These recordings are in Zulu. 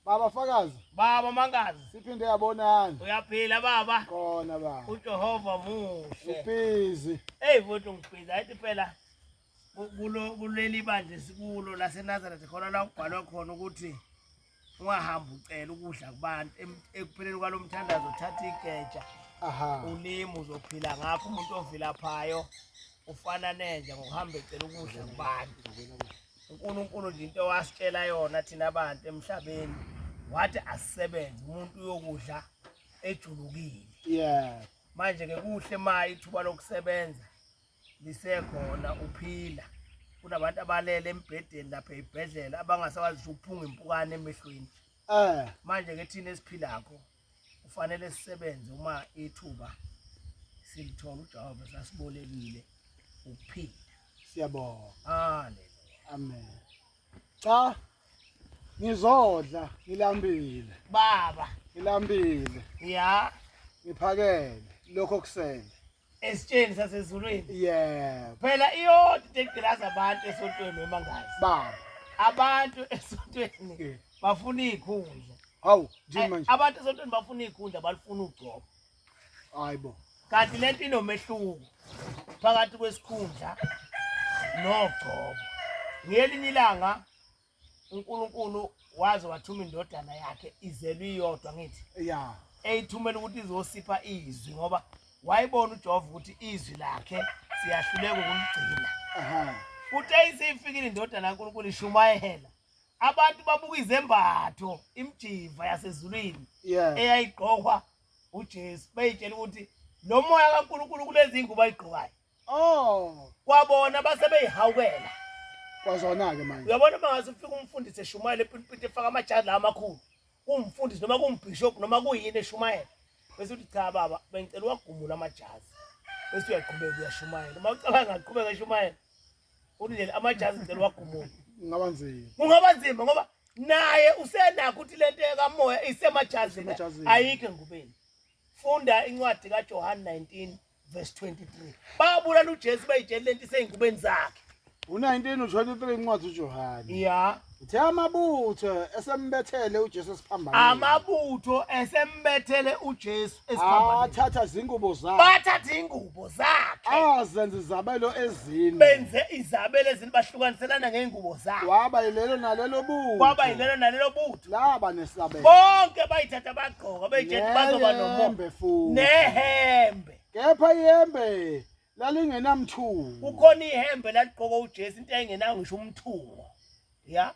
Baba fakazi. Baba mangazi. Siphinde yabonana. Uyaphila baba. Khona baba. UJehova muhle. Ubizi. Hey mfowethu ngibiza ayithi phela kulo kuleli bandla sikulo laseNazareth khona la kubhalwe khona ukuthi ungahamba ucela ukudla kubantu ekupheleni kwalo mthandazo uthatha igeja ulimi uzophila ngakho umuntu ovilaphayo ufana nenja ngokuhamba ecela ukudla kubantu uNkulunkulu nje into wasitshela yona thina abantu emhlabeni wathi asisebenze umuntu uyokudla ejulukile yeah manje ke kuhle maye ithuba lokusebenza lisekhona uphila kunabantu abalele embhedeni lapha ebhedlela abangasakwazi ukuphunga impukane emehlweni eh manje ke thina esiphilakho kufanele sisebenze uma ithuba silithola uJehova sasibolekile ukuphila siyabonga haleluya amen cha ngizodla ngilambile baba ngilambile ya ngiphakele lokho kusele esitsheni sasezulwini yeah phela iyodwa into egqilaza abantu esontweni wemangazi baba abantu esontweni yeah. bafuna izikhundla hawu nje manje abantu esontweni bafuna izikhundla balifuna ugcobo hayibo kanti lento inomehluko phakathi kwesikhundla nogcobo ngelinye ilanga uNkulunkulu waze wathuma indodana yakhe izelwe iyodwa ngithi ya eyithumela ukuthi izosipha izwi ngoba wayibona uJehova ukuthi izwi lakhe siyahluleka ukumgcina aha futhi eyiseyifikile indodana kaNkulunkulu ishumayela abantu babuka izembatho imjiva yasezulwini yeah eyayigqokwa uJesu beyitshela ukuthi lo moya kaNkulunkulu kulezi ngubo ayigqokayo Oh, kwabona base beyihawukela kwazona-ke manje uyabona uma ngaze ufike umfundisi eshumayela epilipiti efaka amajazi la amakhulu kungumfundisi noma kungumbhishobhu noma kuyini eshumayela bese uthi cha baba bengicela uwagumula amajazi bese uyaqhubeka uyashumayela uma ucabanga ngaqhubeka eshumayela uthi nje amajazi ngicela uwagumule ngaba nzima kungaba nzima ngoba naye usenakho ukuthi lento ekamoya isemajazini Isemajazini. ayikho engubeni funda incwadi kaJohane 19 verse 23 babulala uJesu bayitshela lento iseyinkubeni zakhe u-19 u-23 incwadi uJohane ya uthe amabutho esembethele uJesu esiphambanweni amabutho esembethele uJesu esiphambanweni athatha izingubo zakhe bathatha ingubo zakhe azenza izabelo ezine benze izabelo ezine bahlukaniselana ngeengubo zakhe waba yilelo nalelo butho waba yilelo nalelo butho laba nesabelo bonke bayithatha bagqoka bejethi bazoba nomombe futhi nehembe kepha ihembe lalingenamthungo kukhona ihembe laligqoka uJesu into engenayo ngisho umthungo ya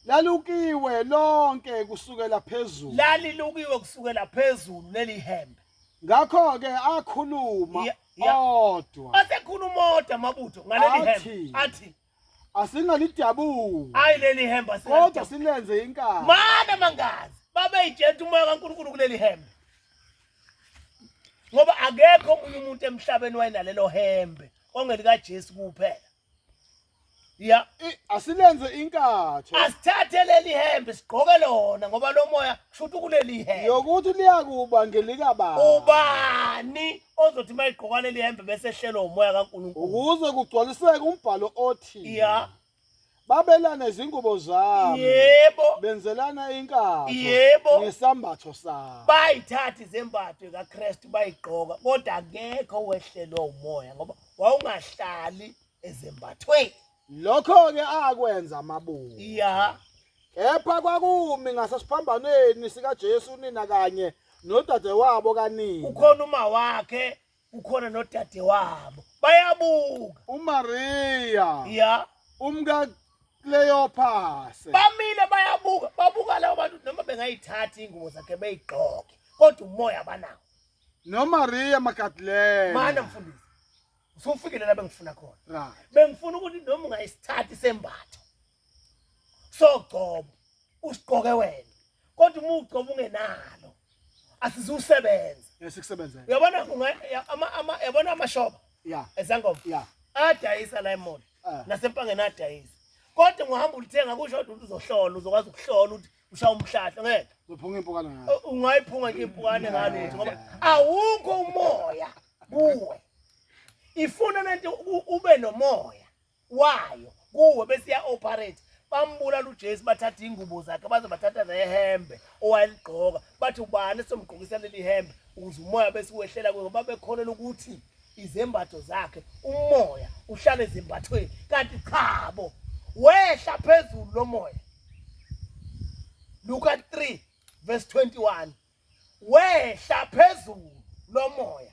lalukiwe lonke kusukela phezulu lalilukiwe kusukela phezulu leli hembe ngakho ke akhuluma odwa asekhuluma odwa mabutho ngaleli hembe athi asingalidabuli hayi leli hembe kodwa silenze inkani mana mangazi babeyijeta umoya kaNkulunkulu kuleli hembe ngoba akekho omunye umuntu emhlabeni wayenalelo hembe ongelikaJesu kuphela ya asilenze inkatho asithathe leli hembe sigqoke lona ngoba lomoya shuthi kuleli hembe yokuthi liyakuba ngelika baba ubani ozothi uma igqoka leli hembe bese ehlelwa umoya kaNkulunkulu ukuze kugcwaliseke umbhalo othi ya babelana izingubo zabo yebo benzelana inkatho yebo ngesambatho sabo bayithatha izembatho kaKristu bayigqoka kodwa akekho wehlelwa umoya ngoba wawungahlali ezembathweni Lokho-ke akwenza amabutho. Ya. Kepha kwakumi ngasesiphambanweni sikaJesu unina kanye nodadewabo kanina. Kukhona uma wakhe, kukhona nodadewabo. Bayabuka. UMariya Ya. umka Kleophase. Bamile bayabuka, babuka labo bantu noma bengayithathi ingubo zakhe beyigqoke. Kodwa umoya banawo. NoMariya Magdalene. Mana mfundisi. usufikile la bengifuna khona right bengifuna ukuthi noma ungayisithathi sembatho sogcobo usiqoke wena kodwa uma ugcobo ungenalo asizusebenza esikusebenzela uyabona unga- ama ama yabona amashoba yeah ezangoma yeah adayisa la emall Ah. nasempangeni adayisa kodwa ngohamba ulithenga kusho kodwa ukuthi uzohlola uzokwazi ukuhlola ukuthi ushaya umhlahla ngeke uphunga impukane ngayo ungayiphunga nje impukane ngalo ngoba awukho umoya kuwe ifuna lento ube nomoya wayo kuwe bese ya operate bambulala uJesu bathatha ingubo zakhe baze bathatha nehembe owayeligqoka bathi ubani somgqokisa leli hembe ukuze umoya bese wehlela kuye ngoba bekholelwa ukuthi izembatho zakhe umoya uhlale ezembathweni kanti chabo wehla phezulu lomoya Luka 3 verse 21 wehla phezulu lomoya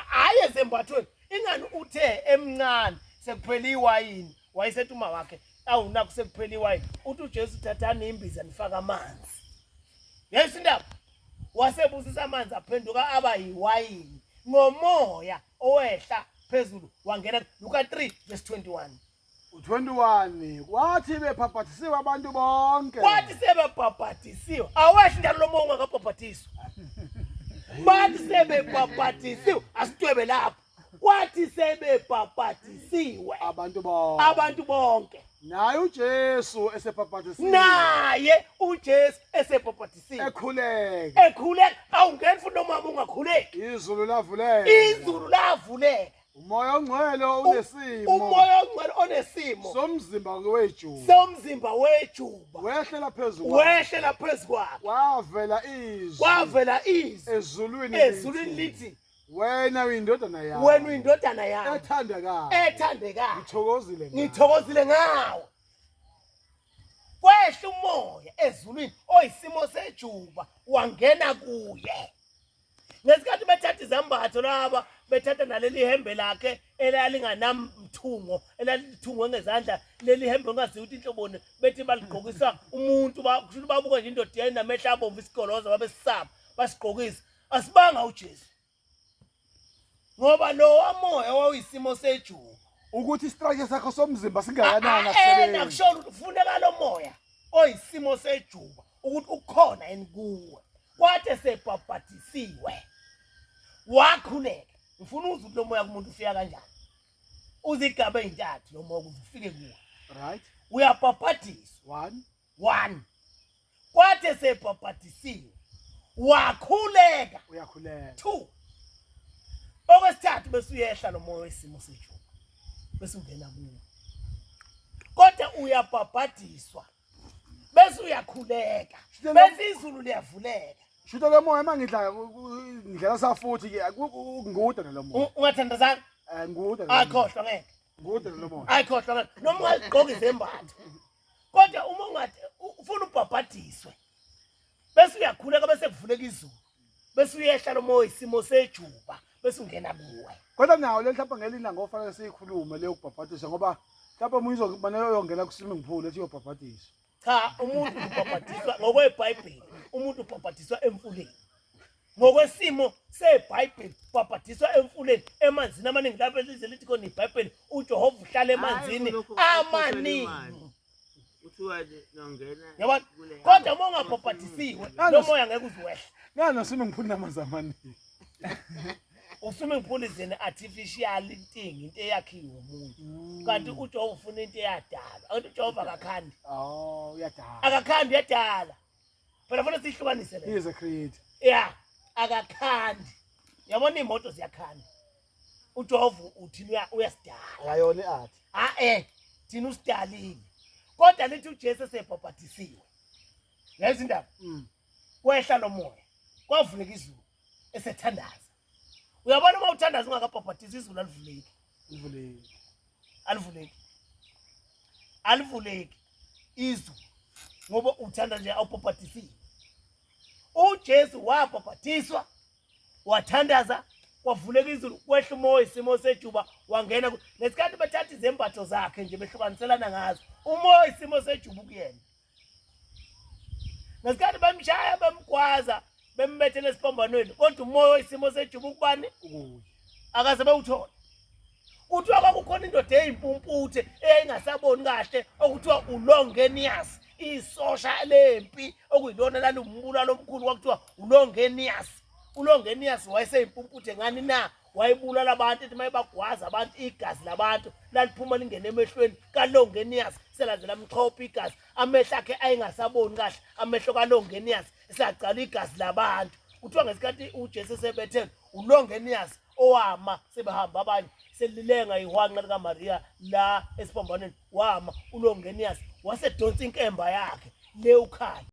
hayi ezembathweni ingani uthe emncane sekuphela iwayini wayesethi uma wakhe awunakho sekuphela iwayini uthi uJesu thathani imbiza nifaka amanzi yes indaba wasebusisa amanzi aphenduka aba yiwayini ngomoya owehla phezulu wangena Luka 3 verse 21 u21 kwathi bephaphathisiwe abantu bonke kwathi sebebhabhathisiwe awehli njalo lomoya ungakabhabhathiswa bathi sebebhabhathisiwe asitwebe lapho kwathi sebebhapatisiwe abantu bonke abantu bonke naye uJesu esebhapatisiwe naye uJesu esebhapatisiwe ekhuleka ekhuleka awungeni futhi nomama ungakhuleki izulu lavuleka izulu lavuleka umoya ongcwele unesimo umoya ongcwele onesimo somzimba wejuba somzimba wejuba wehlela phezulu wehlela phezulu kwavela izwi kwavela izwi ezulwini ezulwini lithi wena uyindodana yami wena uyindodana yami ethandekayo ethandekayo ngithokozile ngithokozile ngawo kwehla umoya ezulwini oyisimo sejuba wangena kuye ngesikhathi bethatha izambatho laba bethatha naleli hembe lakhe elalinganamthungo elalithungwe ngezandla leli hembe ungaziwa ukuthi inhloboni bethi baligqokisa umuntu kusho ukuthi babuka nje indoda yayinamehla abomvu isigoloza babesisaba basigqokisa asibanga uJesu ngoba lo wamoya wawuyisimo sejuba ukuthi isitrike sakho somzimba singakanani ena akusebenzi kushona ukuthi kufuneka lo moya oyisimo sejuba ukuthi ukhona yini kuwe kwade sebhabhadisiwe wakhuleka ngifuna uzwe ukuthi lo moya kumuntu ufika kanjani uzigaba ezintathu lo moya ukuze ufike kuwe right uyabhabhadiswa one one kwathi esebhabhadisiwe wakhuleka uyakhuleka two okwesithathu bese uyehla lo moya wesimo sethu bese ungena kuwo kodwa uyabhabhadiswa bese uyakhuleka bese izulu liyavuleka shuta lo moya mangidla ngidlela safuthi ke ngude lo moya ungathandazana eh ngude akhohlwa ngeke ngude lo moya akhohlwa ngeke noma ungagqoka izembatho kodwa uma ungathi ufuna ubhabhadiswe bese uyakhuleka bese kuvuleka izulu bese uyehla lo moya isimo sejuba bese ungena kuwe kodwa nawo le mhlawumbe ngelina ngofanele siyikhulume leyo kubhabhadiswa ngoba mhlawumbe omunye uzokufanele uyongena ku-swimming pool ethi uyobhabhadiswa cha umuntu ubhabhadiswa ngokwebhayibheli umuntu ubhabhadiswa emfuleni ngokwesimo sebhayibheli babhadiswa emfuleni emanzini amaningi lapho elize lithi khona ibhayibheli ujehova uhlala emanzini amaningi yabona kodwa uma ungabhabhadisiwe lo moya ngeke uziwehle ngani asume ngiphulile amanzi amaningi usume ngiphula izini artificial thing into eyakhiwe umuntu mm. kanti ujehova ufuna into eyadala anti ujehova akakhandi oh, akakhandi uyadala phela funa siyihlukanise le he is a creator yeah akakhandi yabona imoto ziyakhanda ujovu uthina uyasidala ayona iart ha eh thina usidalile kodwa nithi uJesu esebhabhatisiwe yazi indaba mm. kwehla lomoya kwavuleka izulu esethandaza uyabona uma uthandaza ungakabhabhadizi izulu alivuleki alivuleki alivuleki alivuleki izulu ngoba uthanda nje awubhabhadisile uJesu wabhabhadiswa wathandaza kwavuleka izulu kwehla umoya isimo sejuba wangena ngesikhathi bethatha izembatho zakhe nje behlukaniselana ngazo umoya isimo sejuba kuyena ngesikhathi bamshaya bamgwaza bembethele esiphambanweni kodwa umoya oyisimo sejuba ukubani akaze bewuthole kuthiwa kwakukhona indoda eyimpumputhe eyayingasaboni kahle okuthiwa ulongenias isosha lempi okuyilona laliwumbulalo omkhulu kwakuthiwa ulongenias ulongenias wayeseyimpumputhe ngani na wayebulala abantu ethi mayebagwaza abantu igazi labantu laliphuma lingene emehlweni kalongenias selandela mchopha igazi amehlo akhe ayengasaboni kahle amehlo kalongenias esagcala igazi labantu kuthiwa ngesikhathi ujesu esebethele ulongenias owama sebehamba abanye selilenga ihwanqa likamariya la esiphambaneni wama ulongenias wasedonsa inkemba yakhe le ukhala